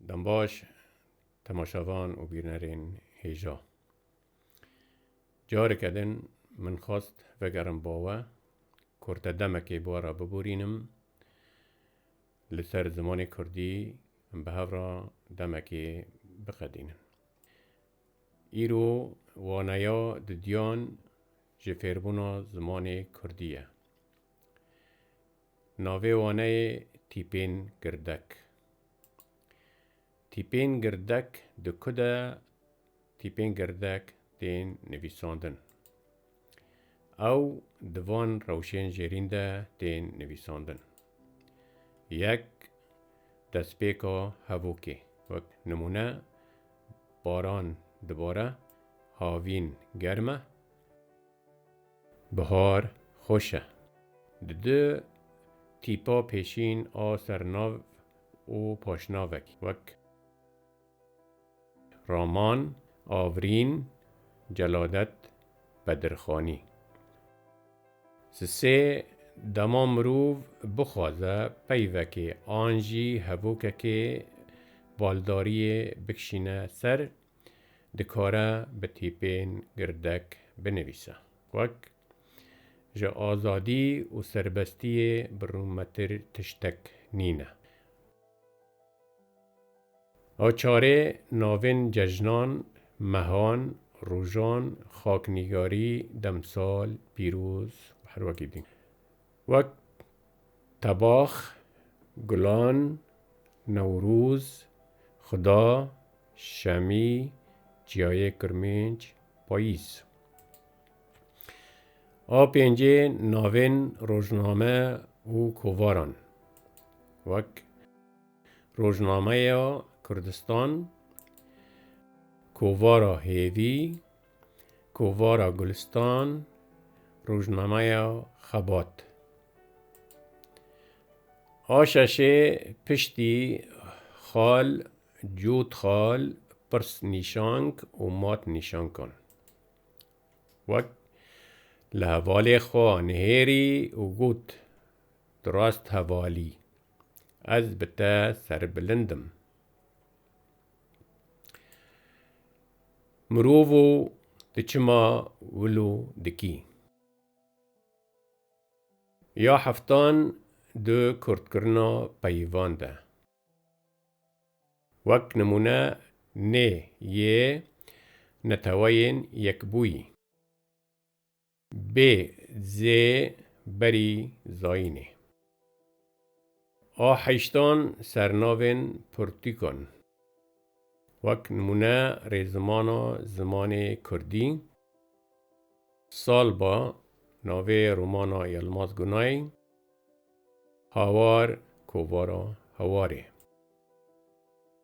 Dembaş, temaşevan û bîrnerên hêja. Careke din min xwest vegerim bawe, kurte demekê ba re biborînim, li ser zimanê kurdî em bi hev re demekê biqedînin. Îro waneya di duyan ji fêrbûna zimanê kurdî ye. Navê waneyê Tîpên Girdek. Tîpên Girdek di ku de Tîpên Girdek tên nivîsandin? Ew di van rewşên jêrîn de tên nivîsandin. Yek destpêka hevokê, wek nimûne baran dibare, havîn germ e, bihar xweş e. Di du tîpa pêşîn a sernav û paşnavekî wek. Raman, Avrîn, Celadet, Bedirxanî. Sisê dema mirov bixwaze peyvekê an jî hevokekê baldariyê bikişîne ser, dikare bi tîpên girdek binivîse. Wek, Ji azadî û serbestiyê bi rûmetir tiştek nîne. A çarê navên cejnan, mehan, rojan, xaknîgarî, demsal, pîroz û her wekî din wek tebax, gulan, newroz, xuda, şemî, çiyayê kirmênc, payîz. A pêncê navên rojname û kovaran wek Rojnameya Kurdistan, Kovara Hêvî, Kovara Gulistan, Rojnameya Xebat. A şeşê piştî xal, cût xal, pirs nîşank û mat nîşankan. Wek li hevalê xwe nihêrî û got, Tu rast hevalî, ez bi te serbilind im. Mirovo tu çima wilo dikî? Ya heftan di kurdkirina peyvan de. Wek nimûne nê yê neteweyên yekbûyî. Bê zê berî zayînê. A heştan sernavên pirtûkan. Wek nimûne rêzimana zimanê kurdî, Salba, navê romana Yilmaz Gunay, Hawar, kovara hawarê.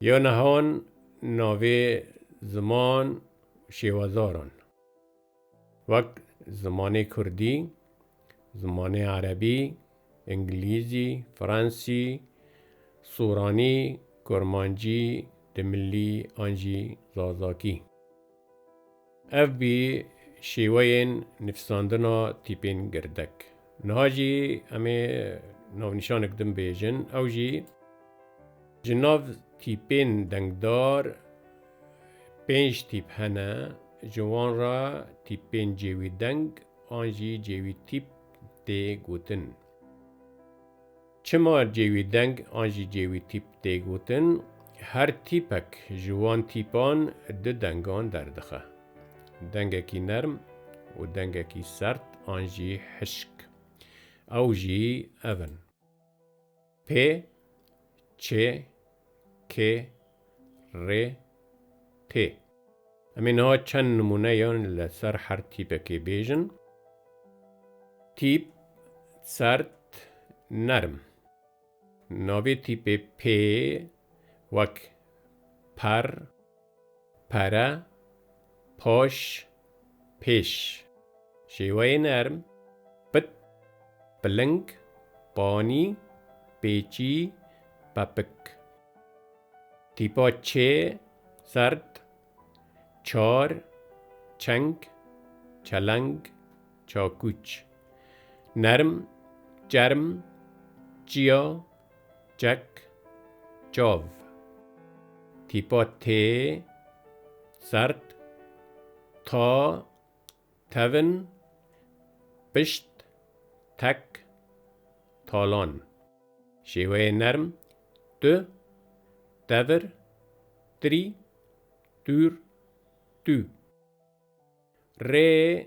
Ya nehan navê ziman û şêwezaran wek zimanê kurdî, zimanê erebî, îngilîzî, fransî, soranî, kurmancî, dimilî an jî zazakî. Ev bî şêweyên nifsandina tîpên girdek. Niha jî em ê navnîşanek din bêjin, ew jî ji nav tîpên dengdar pênc tîp hene, ji wan re tîpên cêwî deng an jî cêwî tîp tê gotin. Çima cêwî deng an jî cêwî tîp tê gotin? Her tîpek ji wan tîpan du dengan derdixe. Dengekî nerm û dengekî sert an jî hişk. Ew jî ev in. Pê, çê, kê, rê, tê. Em ê niha çend nimûneyan li ser her tîpekê bêjin, Tîp, serd, nerm. Navê tîpê pê wek, per, Pere, poş, pêş. Şêweyê nerm, pit, piling, panî, pêçî, pepik. Tîpa çê, zerd, çar, çeng, çeleng, çakûç. Nerm, çerm, çiya, Çek, çav. Tîpa tê, sert, ta, tevin, pişt, tek, talan. Şêweyê nerm, tu, tevir, tirî, tûr, tû. Rê,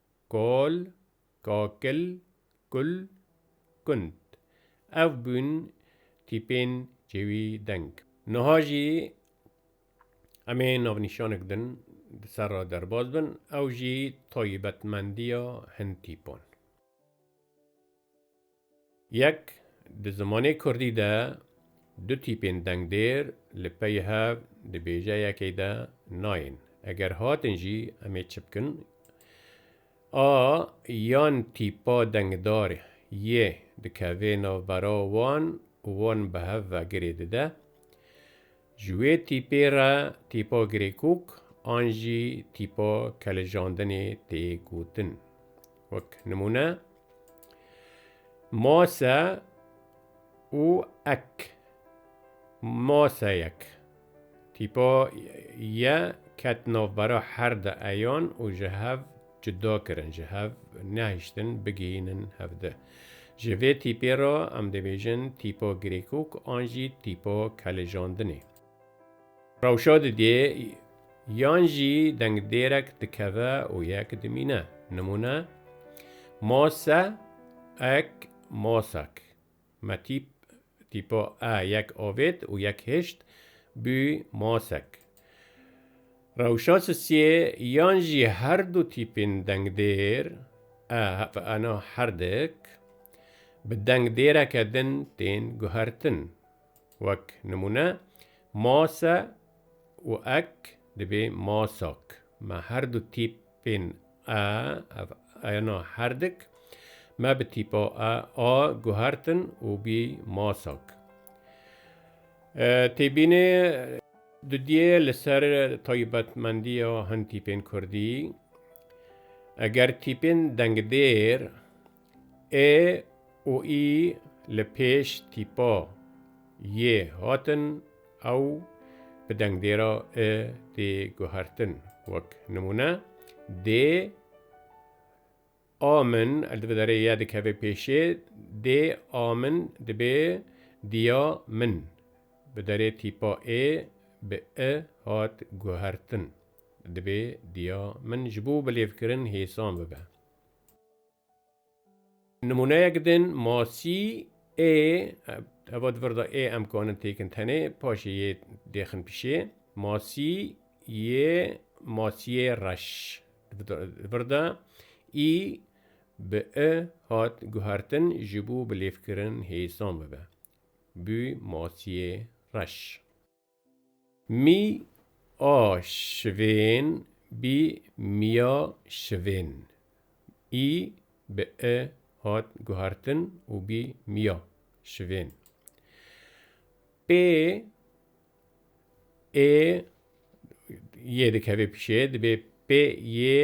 Kol, kakil, kul, kund. Ev bûn tîpên çêwî deng. Niha jî em ê navnîşanek din di ser re derbas bin, ew jî taybetmendiya hin tîpan. Yek, di zimanê kurdî de du tîpên dengdêr li pey hev di bêjeyekê de nayên. Eger hatin jî em ê çi bikin? A yan tîpa dengdar yê dikeve navbera wan û wan bi hev ve girê dide, Ji wê tîpê re tîpa girêkok an jî tîpa kelijandinê tê gotin. Wek nimûne, mase û ek, maseyek, tîpa ye ket navbera her di eyan û ji hev Cuda kirin ji hev nehiştin bigihînin hev di. Ji vê tîpê re em dibêjin tîpa girêkok an jî tîpa kelijandinê. Rewşa didê yan jî dengdêrek dikeve û yek dimîne. Nimûne, ma se, ek, ma sek. Me tîp, tîpa e yek avêt û yek hişt bû masek. Rewşa sisiyê yan jî her du tîpên dengdêr e hevena herdik bi dengdêreke din tên guhertin. Wek nimûne, mase û ek dibê masak. Me her du tîp Pên a, ev ayna herdik me bi tîpa a a guhertin û bî masak. Têbînê. Dudiyê li ser taybetmendiya hin tîpên kurdî, eger tîpên dengdêr Ê û î li pêş tîpa yê hatin ew bi dengdêra i tê guhertin. Wek nimûne, dê, a min, li dibe derê ye dikeve pêşê, dê a min dibê diya min. Bi derê tîpa ê bi i hat guhertin. Dibê diya min ji bo bilêvkirin hêsan bibe. Nimûneyek din masî ê heva di vir de ê em kanin têkin tenê paşê yê dêxin pişê masî yê masiyê reş di vir de î bi i hat guhertin ji bo bilêvkirin hêsan bibe bû masiyê reş. Mî a şivên bî mîya şivên. Î bi i hat guhertin û bî mîya şivên. Pê ê yê dikeve pîşê dibê pê yê.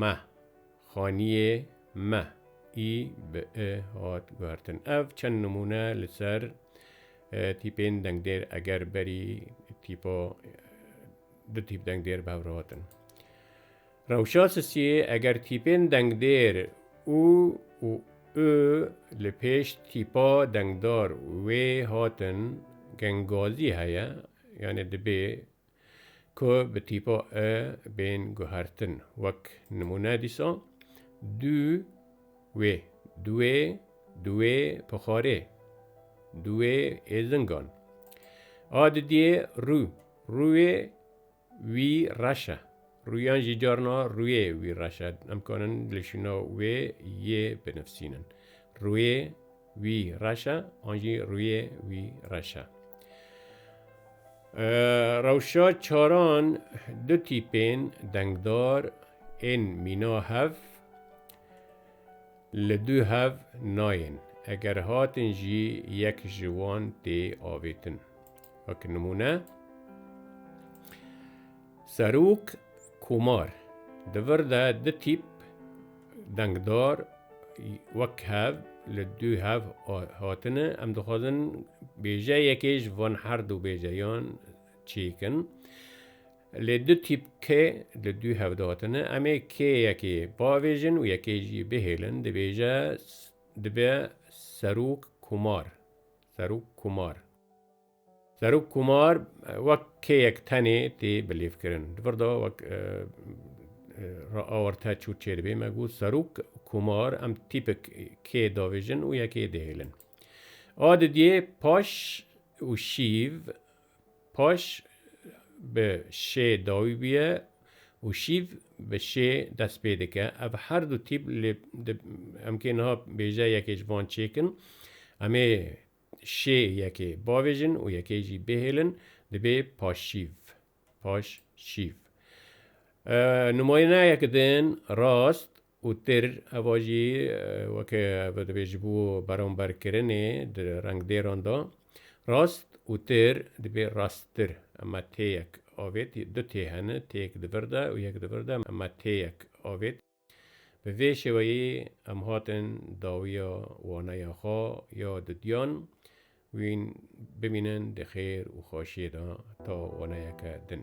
Me, xaniyê me, î bi i hat guhertin. Ev çend nimûne li ser tîpên dengdêr eger berî tîpa du tîp dengdêr bi hev re hatin. Rewşa sisiyê eger tîpên dengdêr û û û li pêş tîpa dengdar wê hatin gengazî heye yanê dibê Ku bi tîpa e bên guhertin. Wek nimûne dîsa dû wê, duwê, duwê pixarê, duwê êzingan. A didiyê rû, rûyê wî reş e. Rûyan jî carna rûyê wî reş e. Em kanin li şûna wê yê binivsînin. Rûyê. Wî reş e an jî rûyê wî reş e. Rewşa çaran du tîpên dengdar ên mîna hev li du hev nayên eger hatin jî yek ji wan tê avêtin. Wek nimûne. Serok Komar, di vir de du tîp dengdar wek hev li dû hev hatine, em dixwazin bêjeyekê ji van her du bêjeyan çêkin. Lê du tîp kê li dû hev de hatine, em ê kê yekê bavêjin û yekê jî bihêlin, dibêje dibe Serok Komar. Zarok Kumar wek kêyek tenê tê bilêvkirin. Di vir de wek re awar te çû çêdibê me got Zarok Kumar em tîpik kê davêjin û yekê dihêlin. A didiyê paş û şîv paş bi şê dawî bûye û şîv bi şê dest pê dike. Ev her du tîp lê em kê niha bêje yekê ji van çêkin. Em ê Şê yekê bavêjin û yekê jî bêhêlin dibê paşşîv, paş şîv. Numayîneyek din rast û tir heva jî weke ve dibê ji bo beramberkirinê di rengdêran de rast û tir dibê rasttir. Ema têyek avêt du tê hene, têyek di vir de û yek di vir de. Ema têyek avêt. Bi vê şêweyê em hatin dawiya waneya xwe ya dudiyan wîn bimînin di xêr û xweşiyê de ta waneyeke din.